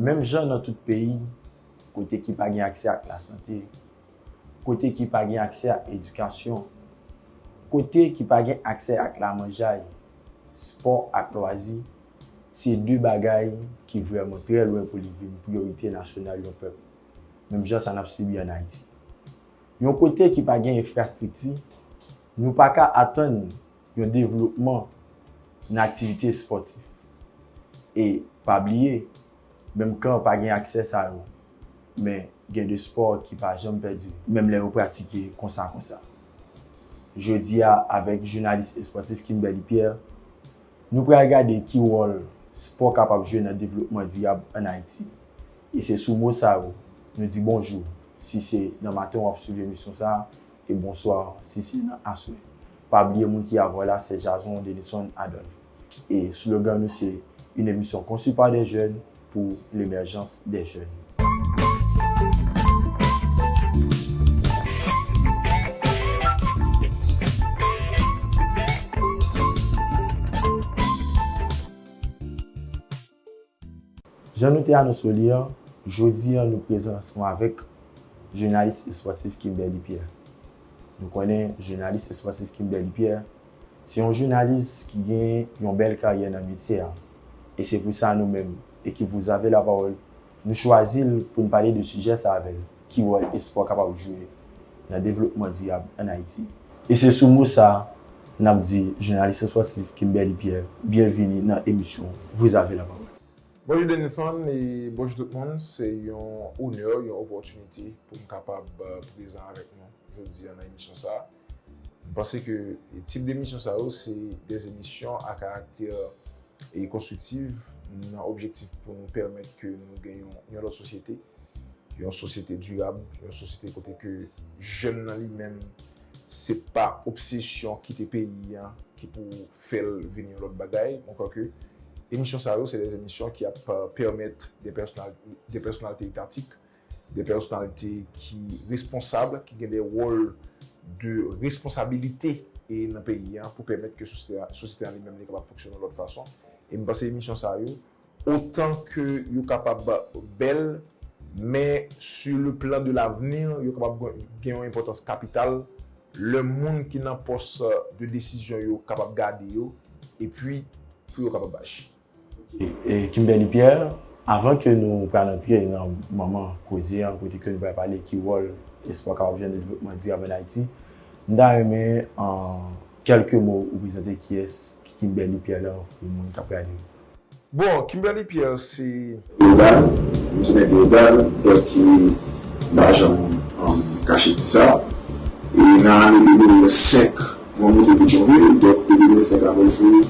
Menm jan nan tout peyi, kote ki pa gen aksè ak lasante, kote ki pa gen aksè ak edikasyon, kote ki pa gen aksè ak lamanjay, spò ak lwazi, Se de bagay ki vrèman trè lwen pou li vin priyorite nasyonal yon pèp, menm jan sa n ap sibi ann Ayiti. Yon kote ki pa gen enfrastrikti, nou pa ka atann yon devlopman nan aktivite espòtif. E, pa bliye, menm kan pa gen aksè sa yo, men gen de espò ki pa janm pèdi, menm lè yo pratike konsa konsa. Jodi a, avèk jounalis espòtif Kimberly Pierre, Nou pral gade ki wòl spò kapab jwe nan devlopman dirab an Ayiti. E se sou mo sa yo, nou di bonjou si se nan maten w ap swiv emisyon sa a, e bonswa si se nan aswè. Pa bliye moun ki avè w la se Jason Denison Adolphe. E slogan nou se, Une émission conçue par des jeunes, pou lemerjans dè jèn. Jan nou te anonso li an, jodi an nou prezan ansanm avèk jounalis espòtif Kimberly Pierre. Nou konnen jounalis espòtif Kimberly Pierre Se yon jounalis ki gen yon bèl karyè nan metye a. E se pou sa nou menm, ekip Vous avez la parole, nou chwazi l pou n pale de sijè sa avè l, ki wòl espò kapab jwe nan devlopman dirab ann Ayiti? E se sou mo sa, n ap di jounalis espòtif Kimberly Pierre byenvini nan emisyon Vous avez la parole. Bonjou Denison e bonjou tout moun. Se yon onè, yon opòtinite pou m kapab prezan avèk nou jodi a nan emisyon sa a. M panse ke tip demisyon sa yo se de emisyon a karaktè e konstriktiv nan objektif pou nou pèmèt ke nou gen yon lòt sosyete, yon sosyete dirab, yon sosyete kote ke jèn nan li menm se pa obsesyon kite peyi an ki pou fè l vin yon lòt bagay. Mwen kwè ke emisyon sa yo se de emisyon ki ap pèmèt de pèsonalite etatik. de pèsonalite ki responsab, ki gen de wòl de responsabilite e nan peyi a pou pèmèt ke sosyete a li menm li kapab fonksyone yon lòt fason. E m panse emisyon sa yo, otan ke yo kapab bèl, men su le plan de lavni, yo kapab gen yon enpòtans kapital lè moun ki nan pòs de desizyon yo kapab gade yo, epi pou yo kapab aji. Kimberly Pierre, Avan ke nou pral antre nan manman koze an kote ke nou pral pale ki wòl espò kapab jwenn nan devlopman dirab an Ayiti, m ta renmen an kèlke mo ou prezante kiyès ki Kimberly Pierre lan pou moun k ap gade yo. Bon, Kimberly Pierre se. Global, nou se nèg legal, dòt ki n pa janm kache di sa. E nan ane 2005, mwen moute Petyonvil, dòt de 2005 a nos jou,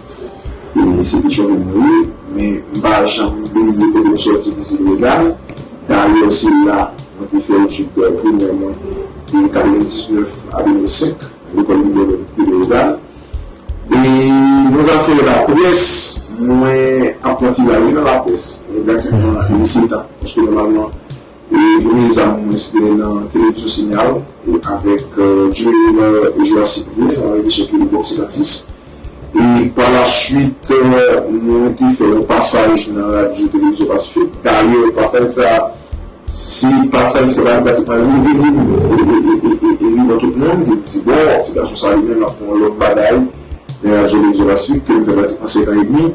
e se Petyonvil mwen ye. Men m pa janm bliye kote m sòti ki se Legal. Dayè se la mwen te fè etid primè mwen de 99 a 2005, lekòl Libèl de Legal. E nan zafè laprès, mwen ap pran ti raje nan laprès. Mwen pratikman lese tan. Paske nòmalman, premye zam mwen se te nan Televizyon Sinyal avèk Joe Rivard e Joas Cyprien nan yon emisyon ki rele Boxe Gratis. E palasuit, mwen te fè yon pasaj nan Radyo Televizyon Pasifik. Dayè, pasaj sa a. Si pa sa misye pral pratiquement leve vinn e vivan tout moun, vinn di bon ti gason sa li menm lap fè yon lot bagay men lap jwe Lexola Suite ke li fè pratiquement 5 ans et demi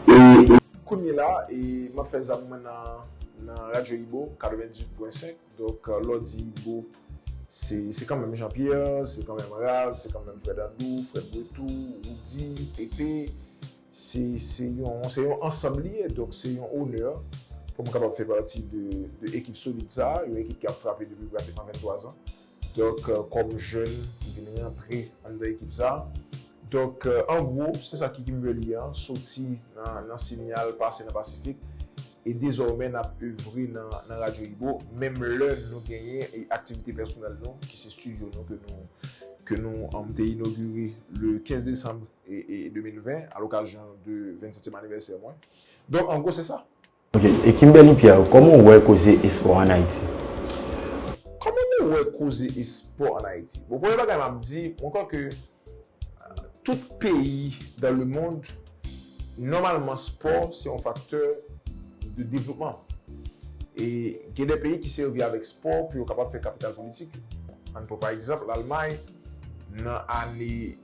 e Kounye la map fè zam mwen nan Radio Ibo 98.5 donk lè w di Ibo se kanmenm Jean Pierre, se kanmenm Ralph, se kanmenm Frè Dandou, Frè Brettou, Roody, Pepe. Se yon ansanm li ye, donk se yon onè pou m kapab fè pati de ekip solid sa a, yon ekip ki ap frape depi pratikman 23 zan. Donk, kòm jèn ki vin rantre anndan ekip sa a. Donk, an gwo, se sa ki Kimberly an, soti nan Sinyal, pase nan Pasifik, e dezòmè n ap evre nan Radyo Ibo, menm lè nou genyen aktivite pèsonèl nou, ki se stidyo nou ke nou te inogire le 15 desanm. 2020 a l'occasion de 27 ème anniversaire mwen. Donk an gwo se sa. Ok, e Kimberly Pierre, kòman ou wè koze espò an Ayiti? Kòman mwen wè koze espò an Ayiti? Bon premye bagay m'ap di, mwen kwè ke tout peyi dan le mond, nòmalman spò se yon faktè de devlopman. E gen de peyi ki sèvi avèk spò pou yo kapab fè kapital politik. Ann pran pa egzanp l'Almay. Nan ane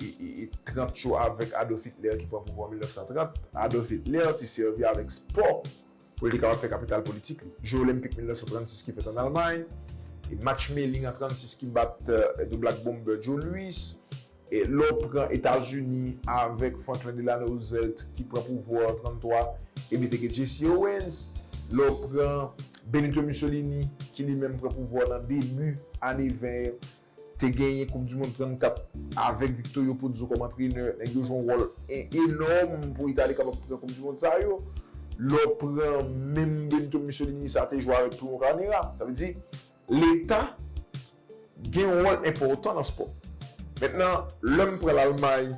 30 yo avèk Adolf Hitler ki pran pouvwa an 1930, Adolf Hitler te sèvi avèk spò pou l te kapab fè kapital politik li. Je Olenpik 1936 ki fèt an Almay, match Melling an 36 ki bat The Black Bomber Joe Louis, lè w pran Etazini avèk Franklin Delano Roosevelt ki pran pouvwa an 33 epi te gen Jesse Owens, lè w pran Benito Mussolini ki li menm pran pouvwa nan debi ane 20 yo. te genyen koup du mond 34 avèk Victorio Pozzo kòm antrenè, nèg yo jwe yon wòl enòm pou Itali kapab pran koup du mond sa yo. Lè w pran menm Benito Mussolini sa te jwe avèk tou yon kanera. Sa vle di leta gen yon wòl enpòtan nan spò. Mentnan lè m pran Lalmay,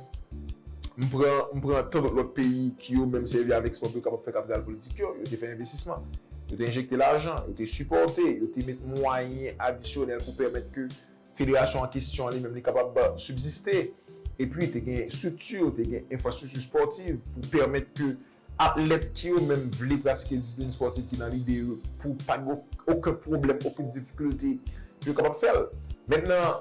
m pran m pran tan dòt lòt peyi ki yo menm sèvi avèk spò pou yo kapab fè kapital politik yo, yo te fè envestisman. Yo te enjekte lajan, yo te sipòte, yo te met mwayen adisyonèl pou pèmèt ke federasyon an kesyon li menm li kapab sibsiste. Epi te gen estrikti, te gen enfrastrikti espòtiv pou pèmèt ke atlèt ki yo menm vle pratike disiplin espòtiv ki nan lide yo pou pa gen oken pwoblèm, oken difikilte pou yo kapab fè l. Mentnan,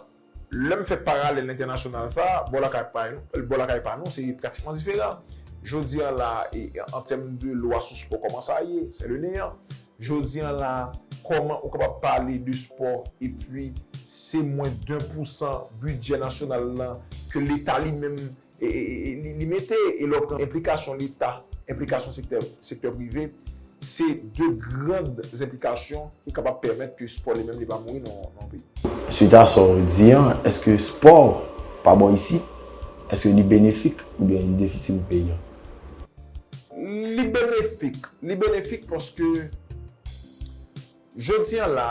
Lè m fè paralèl entènasyonal sa a, bò lakay pa nou, bò lakay pa nou se pratikman diferan. Jodi an la a, e an tèm de lwa sou spò kòman sa ye, sè le neyan. Jodi an la a, kòman ou kapab pale de spò epi se mwen den pousan bidjè nasyonal lan ke leta li menm li mete lòk nan enplikasyon leta, enplikasyon sektè prive, se de gran enplikasyon ki kapab pèmèt ke spò li menm li pa mouri nan yon peyi. Swit a sa w di an, èske spò pa bon isit? Èske li benefik oubyen li defisi pou peyi an? Li benefik, li benefik paske jodi an la,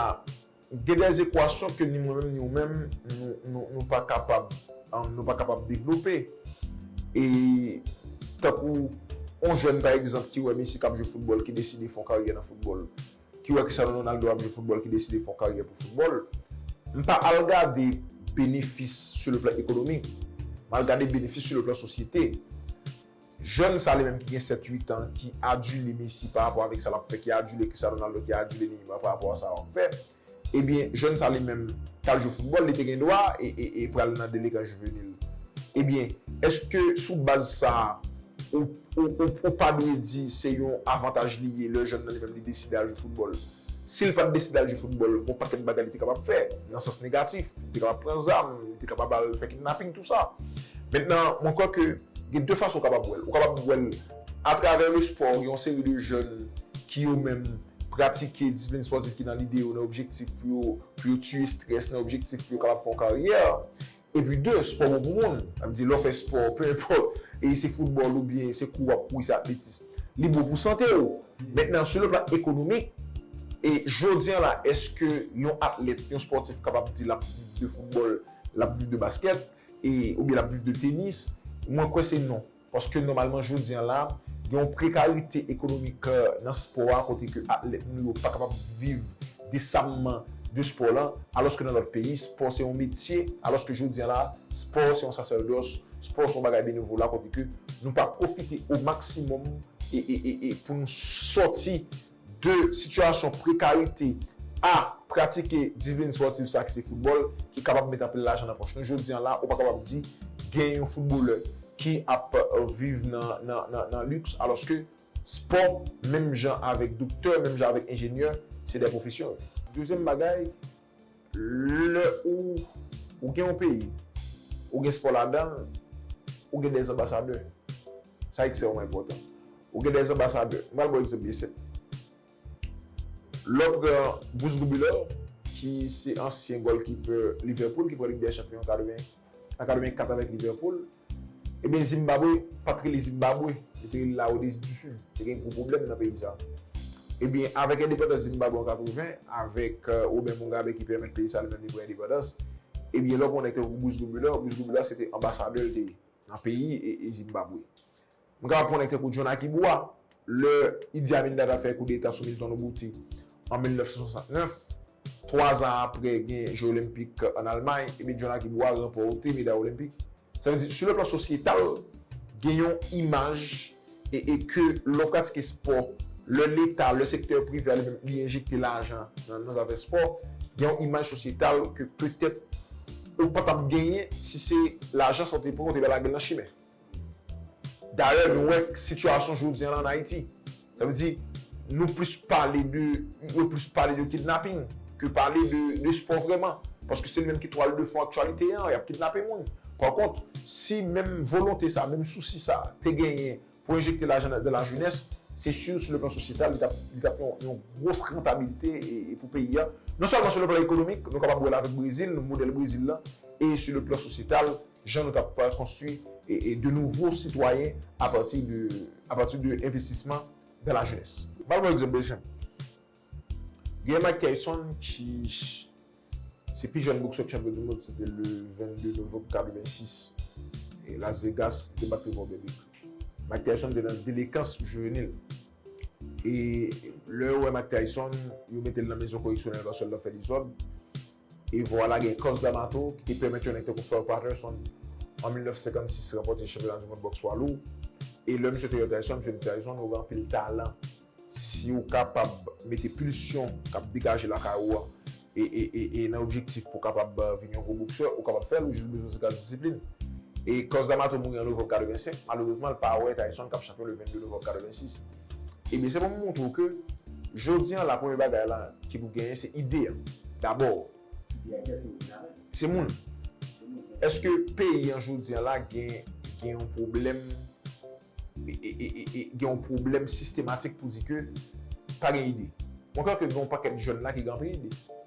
Gen des equations ke ni mwen menm ni ou menm nou pa kapab nou pa kapab devlope e tankou yon jèn pa egzanp ki wè Messi kap jwe foutbòl ki deside fè yon karyè nan foutbòl ki wè Cristiano Ronaldo ap jwe foutbòl ki deside fè yon karyè pou foutbòl m pa al gade benefis sou le plan ekonomik m al gade benefis sou le plan sosyete. Jèn sa li menm ki gen 7 8 an ki adule Messi pa rapò avèk sa lap fè ki adule Cristiano Ronaldo ki adule Neymar pa rapò a sa wap fè ebyen jèn sa li menm tal jwe foutbòl li te gen dwa e pral nan delegan jivenil ebyen èske sou baz sa ou ou pa dwe di se yon avantaj li ye lè jèn nan li menm li deside al jwe foutbòl. Si l pa t deside al jwe foutbòl, gon pakèt bagay li te kapab fè nan sans negatif. Li te kapab pran zam, li te kapab al fè kidnaping, tout sa. Mentnan, mwen kwè ke gen de fason ou kapab wè l. Ou kapab wè l atravè lespò, gen yon seri de jèn ki yo menm pratike disiplin espòtif ki nan lide yo, nan objektif pou yo tiye strès, nan objektif pou yo kapab fè yon karyè. Epi de, spò bon pou moun. Sa vle di lè w fè spò, pe enpòt e se foutbòl oubyen se kou w ap kouri, se atletism, li bon pou sante w. Mentnan sou le plan ekonomik, e jodi an la èske yon atlèt, yon spòtif kapab di l ap viv de foutbòl, l ap viv de baskèt e oubyen l ap viv de tenis? Mwen kwè se non. Paske nòmalman jodi an la, gen yon prekarite ekonomik nan spò a kote ke atlèt nou yo pa kapab viv desamman de spò lan. Alòske nan lòt peyi, spò se yon metye, alòske jodi an la, spò se yon sasèrdòs, spò se yon bagay benevola kote ke nou pa pwofite o maksimòm pou nou sòti. 2 sitiyasyon prekarite a pratike divlin spòtif sa ki se foutbòl ki kapab met anpil lajan nan pòch nou jodi an la ou pa kapab di gen yon foutbolè ki ap viv nan liks alòske spò menm jan avèk doktè menm jan avèk enjenyè se de pwofesyon yo. Dezyèm bagay Lè ou ou gen yon peyi, ou gen spò ladan l, ou gen 2 anbasadè. Sa ekstrèmman enpòtan. Ou gen 2 anbasadè. M pral ba w egzanp byen senp. Lè w pran Bruce Goubilor ki se ansyen gòlkipè Liverpool ki pran Lig dè Chanpyon an 80. Nan 84 avèk Liverpool. Ebyen Zimbabwe pat rele Zimbabwe, yo te rele la Rhodesie du Sud. Te gen gwo pwoblèm nan peyi sa. Ebyen avèk endepandans Zimbabwe an 80, avèk Robert Mugabe ki pèmèt peyi sa li menm li pran endepandans, ebyen lè w pran nèg tankou Bruce Gobulor, Bruce Gobulor se te anbasadè l te ye nan peyi Zimbabwe. M kapab konnen tankou John Akibua, lè Idi Amin Dada fè koudeta sou Milton Oboute an 1969, twa zan apre gen je olenpik an Almay, ebyen John Akibua ranpòte meday olenpik. Sa vle di, sou le plan sosyetal, gen yon imaj e e ke lè w pratike spò, lè leta, lè sektè prive a li menm li enjekte lajan nan zafè spò, gen yon imaj sosyetal ke petèt ou pa t ap genyen si se lajan sa w te pran ou te bay lage l nan chimè. Dayè nou wè sitiyasyon jodi an la an Ayiti. Sa vle di nou plis pale de, yo plis pale de kidnaping ke pale de espò vrèman. Paske se li menm ki twal de fon aktyalite an, y ap kidnape moun. Pa kont, si menm volonte sa, menm sousi sa te genyen pou enjekte lajan nan la jenès, se si sou le plan sosyetal li t ap li t ap yon yon gwos rantabilite pou peyi a. Non sèlman sou le plan ekonomik, nou kapab wè l avèk Brezil, modèl Brezil la e sou le plan sosyetal Jan nou kab pa konstwi de nouvo sitwayen a pati de a pati de envestisman dan la jenès. M pral ban w egzanp bèl zen. Genyen Mike Tyson ki se pi jèn boksè k chanpyon du mond se te le 22 novanm 86 e Las Vegas li te bat Trevor Berbick. Mike Tyson te nan delekans jivenil e lè yo wè Mike Tyson yo mete l nan mezon koreksyonèl paske l t ap fè dezòd. E vwala gen Cus D'Amato ki te pèmèt yon nèg tankou Floyd Patterson an 1956 ranpòte chanpyona di mond bòks pwa lou. E lè misye te yon Tyson, misye di Tyson ou gen anpil talan si ou kapab mete pulsyon k ap degaje lakay ou an e nan objektif pou w kapab vin yon gwo boksè ou kapab fè l ou jis bezwen se gras disiplin. E Cus D'Amato mouri an novanm 85, malerezman l pa wè Tyson k ap chanpyon le 22 novanm 86. Ebyen se pou m montre w ke jodi an la premye bagay la ki pou genyen se ide an dabò. Ide a kiyès ki pou vin avè l? Se moun. Se moun. Eske peyi an jodi an la gen gen yon pwoblèm gen yon pwoblèm sistematik pou di ke pa gen ide? Mwen kwè ke gen yon pakèt jèn la ki gen anpil ide.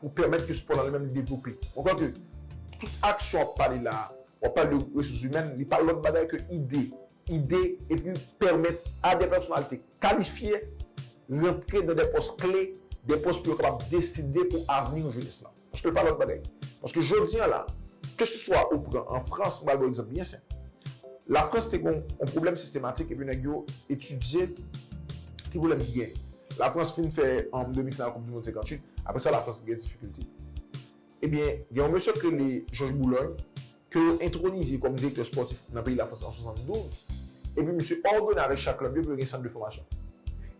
pou pèmèt ke spò nan li menm li devlope. Ou kwè ke tout aksyon wap pale la, wap pale de resous imèn, li pa lòt bagay ke ide, ide epi pèmèt a dè pèsonalite kalifye rantre nan dè pòs kle, dè pòs pou yo kapab deside pou avni yon jenès la. Paske li pa lòt bagay. Paske jodi an la, ke se swa ou pran an Frans, m pral ba w egzanp byen senp. La Frans te gen yon pwoblèm sistematik epi nèg yo etidye ki pwoblèm ki gen. La Frans fin fè an demi final koup di mond 58, aprè sa la Frans gen difikilte. Ebyen gen yon mesye k rele Jòj Boulòy ke yo entronize kòm direktè spòtif nan peyi la Frans an 72, epi misye òdone avèk chak klèb yo pou yo gen sant de fòmasyon.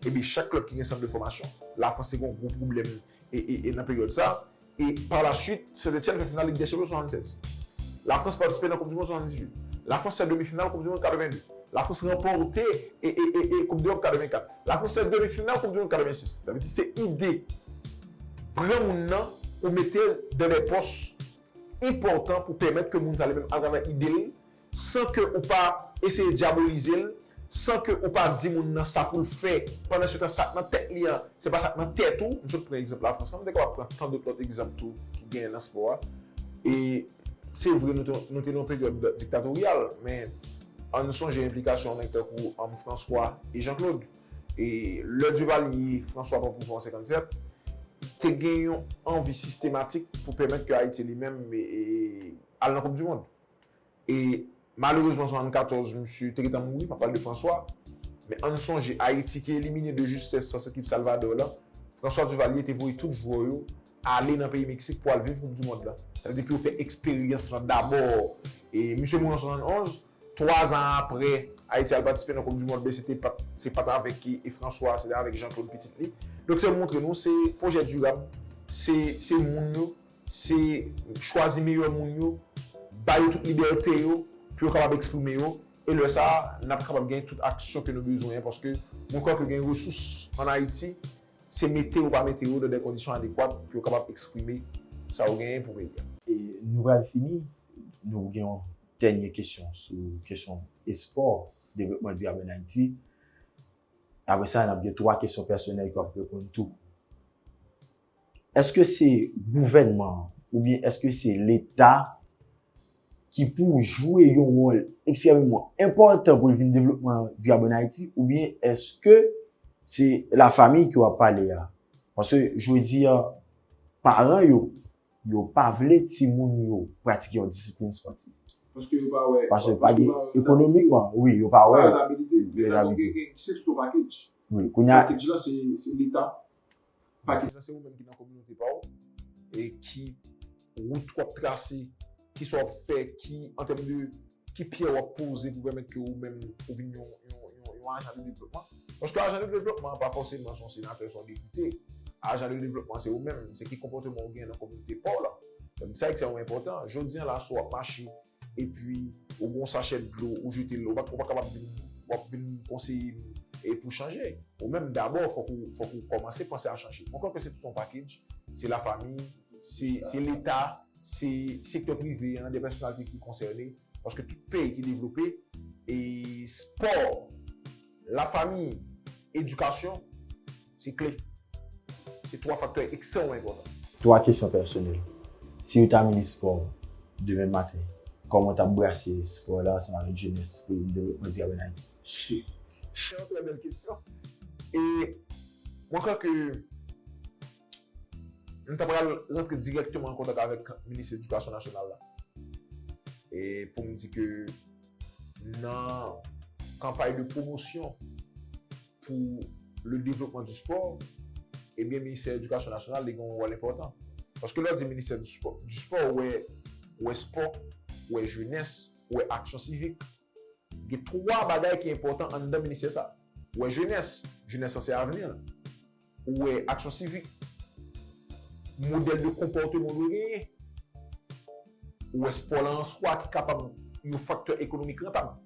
Ebyen chak klèb ki gen sant de fòmasyon, la Frans te gen yon gwo pwoblèm e nan peryòd sa, e pa la suit Sen Etyèn fè final Lig dè Chanpyon 76. La Frans patisipe nan koup di mond 78. La Frans fè demi final koup di mond 82. La Frans ranpòte e e koup deròp 84. La Frans fè demi final koup di mond 86. Sa vle di se ide pran moun nan ou mete l dan dè pòs enpòtan pou pèmèt ke moun sa li menm atravè ide l san ke ou pa eseye dyabolize l, san ke ou pa di moun nan sa pou l fè, pandan se tan sa k nan tèt li an, se pa sa k nan tèt ou, m sot pran egzanp Lafrans lan, m te kapab pran tan dout lòt egzanp tou ki genyen nan spò a, e se vre nou te nou te nan yon peryòd diktatoryal, men an n sonje enplikasyon yon nèg tankou Franswa e Jan Klod, e lè Divalye, Franswa pran pouvwa an 57, te gen yon anvi sistematik pou pèmèt ke Ayiti li menm al nan koupdimond. E malerezman 74 misye te gentan mouri, m ap pale de François. Men ann sonje Ayiti ki elimine de justès fas ekip Salvador lan, François Duvalier te voye tout jwè yo ale nan peyi Meksik pou al viv koup di mond lan. Sa vle di pou yo fè eksperyans lan dabò. E misye mouri an 71, 3 zan aprè Ayiti al patisipe nan koup di mond lan se te pat se pat avèk François se te avèk Jean Claude pitit li. Donk se montre nou se pwojè dirab, se se moun yo Se chwazi meyè moun yo, ba yo tout libète yo pou yo kapab eksprime yo e lè sa a n ap kapab gen tout aksyon ke nou bezwen an paske mwen kwè ke gen resous an Ayiti se mete ou pa mete yo nan dè kondisyon adekwat pou yo kapab eksprime sa yo genyen pou peyi a. E nou pral fini, nou gen yon dènye kesyon sou kesyon espò, devlopman dirab an Ayiti. Apre sa n ap gen twa kesyon pèsonèl ke w ap reponn tou. Eske se gouvènman oubyen eske se leta ki pou jwe yon wòl ekstrèmeman enpòtan pou vin devlopman dirab an Ayiti oubyen eske se la famiy ke w ap pale a? Paske jodi a paran yo, yo pa vle timoun yo pratike yon disiplin spòtif. Paske yo pa wè. Paske pa gen ekonomikman, wi, yo pa wè. Yo pa wè rentabilite. Rentabilite. Ki se tout yon pakej. Wi, kounya. Pakej la se leta. Pakijan se ou menm ki nan kominote pa w e ki wout w ap trase, ki sa w ap fè, ki an tèm de ki pyè w ap poze pou pèmèt ke ou menm ou vin yon yon ajan de devlopman. Paske ajan de devlopman an pa fòseman se yon senatè, se yon depite. Ajan de devlopman se ou menm, se ki konpòteman ou gen nan kominote pa w la. Sa ekstrèmman enpòtan. Jodi an la si w ap mache. epi ou gen yon sachè dlo ou jete l ou pa ka ap vin w ap vin konseye m pou w chanje ou menm dabò fòk ou kòmanse panse a chanje mwen kwè ke se tout yon pakej se lafami se leta se sektè prive an de pèsonalite ki konsène paske tout peyi ki devlope espò lafami edikasyon Se kle. Se 3 faktè ekstrèmman enpòtan. 3 kesyon pèsonèl, Si yo ta minis spò demen maten, kòman w t ap brase spò la ansanm avèk jenès pou yon devlopman dirab ann Ayiti? Se yon trè bèl kesyon. E mwen kwè ke m ta pral rantre dirèkteman an kontak avèk minis edikasyon nasyonal la e pou m di ke nan kanpay de pwomosyon, pou le devlopman di spò, ebyen ministè edikasyon nasyonal li gen yon wòl enpòtan. Paske lè w di ministè di spò, di spò ou wè, ou wè spò, ou wè jenès, ou wè aksyon sivik. Gen 3 bagay ki enpòtan anndan ministè sa. Ou wè jenès, jenès lan se avni an. Ou wè aksyon sivik, modèl de konpòteman ou dwe genyen. Ou wè spò la an swa ki kapab yon faktè ekonomik rantab.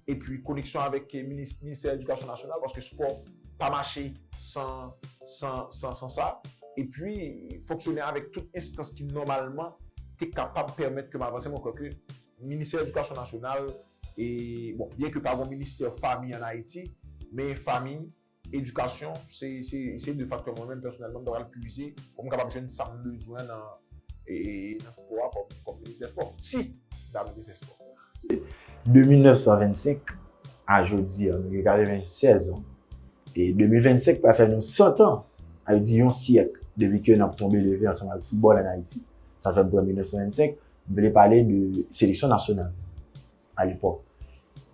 Epi koneksyon avèk ministè edikasyon nasyonal paske spò pa mache san sa. Epi fonksyone avèk tout enstans ki nòmalman te kapab pèmèt ke m avanse. Mwen kwè ke ministè edikasyon nasyonal, bon, byen ke pa gen yon ministè fanmi an Ayiti, men fanmi, Edikasyon se de faktè mwen menm pèsonèlman m ta pral pwize pou m kapab jwenn sa m bezwen nan espò a kòm minis dè spò, si m ta minis dè spò. De 1925 a jodi an, nou gen 96 an, e 2025 pral fè nou 100 tan, sa vle di yon syèk, depi ke n ap tonbe leve ansanm avèk foutbòl ann Ayiti. Sa fè m pran 1925, m vle pale de seleksyon nasyonal. a lepòk.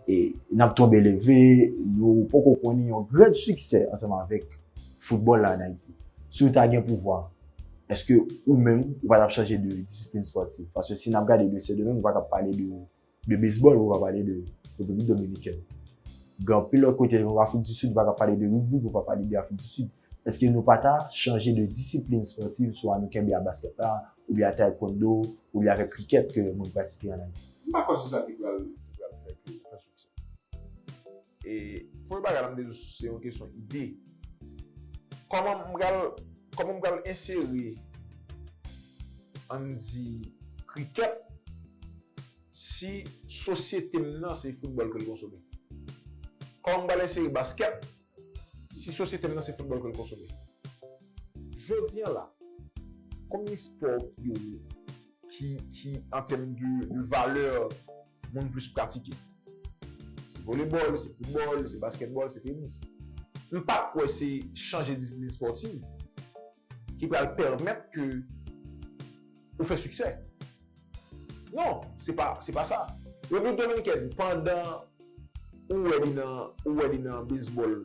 E n ap tonbe leve, nou poko konnen yon grenn siksè ansanm avèk foutbòl la an Ayiti. Si w ta gen pouvwa, èske ou menm ou pa t ap chanje de disiplin espòtif? Paske si n ap gade de Sendomeng, ou pa ka pale de bezbòl, ou pa pale de Repiblik Dominikèn. Gen anpil lòt kote, Afrikdisid, ou pa ka pale de rigbi, ou pa pale de Afrikdisid. Eske nou pa ta chanje de disiplin spòtiv swa nou kenbe a baskèt la, oubyen a taekwondo, oubyen avèk krikèt ke moun pratike an Ayiti? M pa kwè se sa ki pral fè ke yo fè siksè. E premye bagay la m te di w se yon kesyon ide. Kòman m pral, kòman m pral ensere ann di krikèt si sosyete m nan se foutbòl ke l konsome? Kòman m pral ensere baskèt? Si sosyete m nan se foutbòl ke l konsome. Jodi an la, konbyen spò ki yo ye ki, ki an tèm de valè moun plis pratike? Se volebòl, se foutbòl, se baskètbòl, se tenis. M pa kwè se chanje disiplin spòtiv. ki pral pèmèt ke ou fè siksè. Non, se pa, se pa sa. Replik Dominikèn, pandan ou wè li nan, ou wè li nan bezbòl,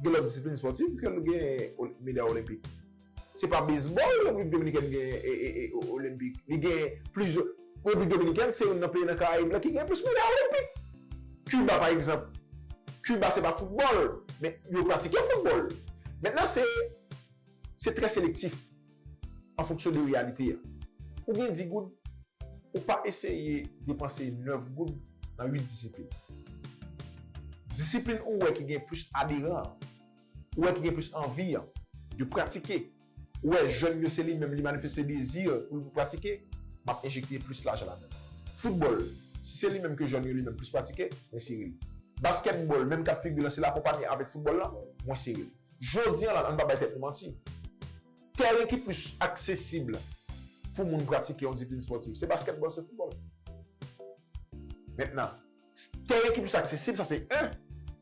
gen lòt disiplin espòtiv ke l gen meday olenpik. Se pa bezbòl Replik Dominikèn gen e, e, e olenpik. Li gen plizyè. Repiblik Dominikèn se youn nan peyi nan Karayib la ki gen plis medal Olenpik. Kiba pa egzanp, Kiba se pa foutbòl, men yo pratike foutbòl. Mentnan se se trè selektif an fonksyon de reyalite a. Ou gen di goud, ou pa eseye depanse nèf goud nan uit disiplin. Disiplin ou wè ki gen plis aderan an, ou wè ki gen plis anvi an, de pratike. wè jèn yo se li menm li manifeste dezi pou l pratike, m ap enjekte plis lajan ladan l. Foutbòl, si se li menm ke jèn yo li menm plis pratike, mwen sere li. Baskètbòl, menm kad figi lan se lakonpanye avèk foutbòl lan, mwen sere li. Jodi an la, an n pa bay tèt nou manti, tèren ki plis aksesib pou moun pratike yon disiplin spòtif se baskètbòl, se foutbòl. Mentnan. Tèren ki plis aksesib sa se 1.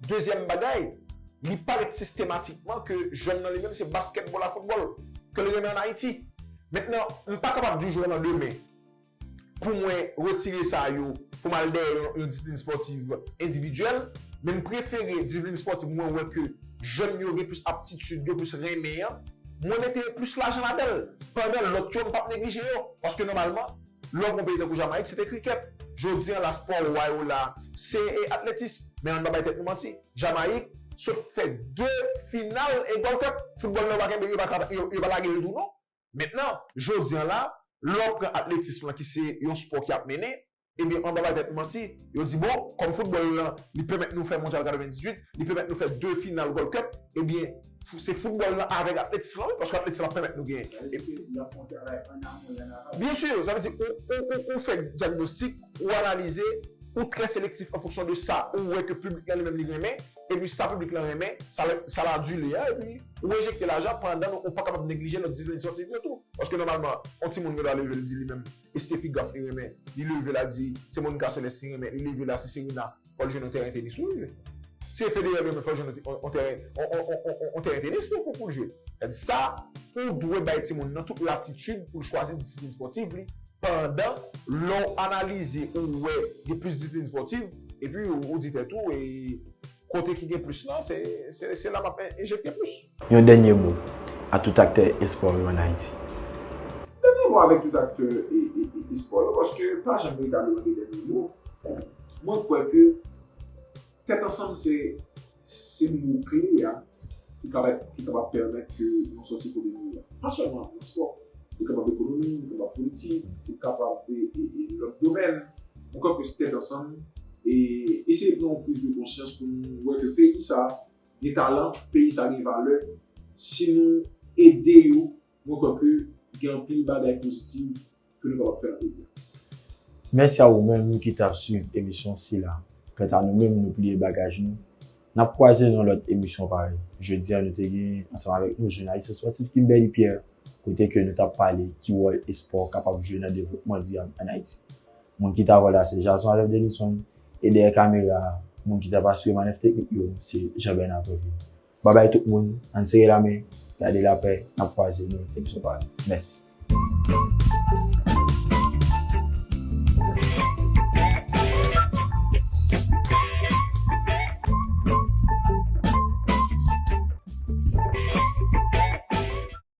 Dezyèm bagay, li parèt sistematikman ke jwèn nan li menm se baskètbòl a foutbòl ke l renmen an Ayiti. Mentnan, m pa kapab di w jou nan demen pou mwen retire sa yo pou m al dèyè yon disiplin spòtiv endividyèl, men m prefere disiplin spòtiv mwen wè ke jèn yo gen plis aptitid, yo plis renmen an, mwen mete plis lajan ladan l. Pandan lòt yo, m p ap neglije yo. Paske nòmalman, Lòt bon peyi tankou Jamayik se te krikèt. Jodi an la spò wa yo la se atletis. Men ann pa bay tèt nou manti. Jamayik sot fè 2 final e gòl kòt. Foutbòl la yo pa kenbe yo pa yo pa lage l tou non. Mentnan, jodi an la, lè w pran atletism lan ki se yon spò ki ap mennen, ebyen ann pa bay tèt nou manti, yo di bon, kòm foutbòl lan li pèmèt nou fè mondyal 98, li pèmèt nou fè 2 final gòl kòt, ebyen, Se football nan avek atletism lan wi paske atletism ap pemet nou gen. Sa vle di ke yap fon travay an amon e an aval. Byen sur, sa vle di ou ou fè dyagnostik, ou analize, ou trè selektif an fonksyon de sa ou wè ke piblik lan li menm li renmen, epi sa piblik lan renmen, sa la dule a epi ou enjekte lajan pandan nou ou pa kapab neglije lòt disiplin espòtif yo tou. Paske nòmalman on timoun gen dwa leve li di li menm Estefi Graf li renmen, li leve la di se Monica Celeste li renmen, li leve la se Serena. fò l jwenn yon tèren tenis pou l jwe. Si e Federer yo menm fò l jwenn yon tèren yon tèren tenis pou pou l jwe. Sa di sa ou dwe bay timoun nan tout latitid pou l chwazi disiplin spòtiv li pandan lè w analize ou wè gen plis disiplin spòtiv epi ou di tèt ou e kote ki gen plis lan se la m ap enjekte plis. Yon dènye mo a tout aktè espò yo an Ayiti. Yon dènye mo avèk tout aktè espò yo paske pa janm reta lwen de dènye mo. Mwen kwè ke tèt ansanm se mo kle a ki kapab pèmèt ke nou sòti kote nou ye a. Pa sèlman nan espò. Li kapab ekonomi, li kapab politik, li kapab lòt domèn. Mwen kwè ke se tèt ansanm e eseye pran yon priz de konsyans pou nou wè ke peyi sa gen talan, peyi sa gen valè, si nou ede yo mwen kwè ke gen anpil bagay pozitiv ke nou kapab fè nan peyi a. Mèsi a ou menm ki t ap swiv emisyon sila. Kanta nou menm nou pliye bagaj nou, n ap kwaze nan lòt emisyon parèy. Jodi a nou te gen ansanm avèk nou jounalis espòtif Kimberly Pierre kote ke nou t ap pale ki wòl espò kapab jwe nan devlopman dirab an Ayiti. Moun ki ta wè la se Jason avèk Denison e dèyè kamera a moun ki tap asire manèv teknik yo se Jean Bernard Prévil. Babay tout moun, ann sere lamen, gade lapè, nap kwaze nan lòt episode pa nou. Mèsi.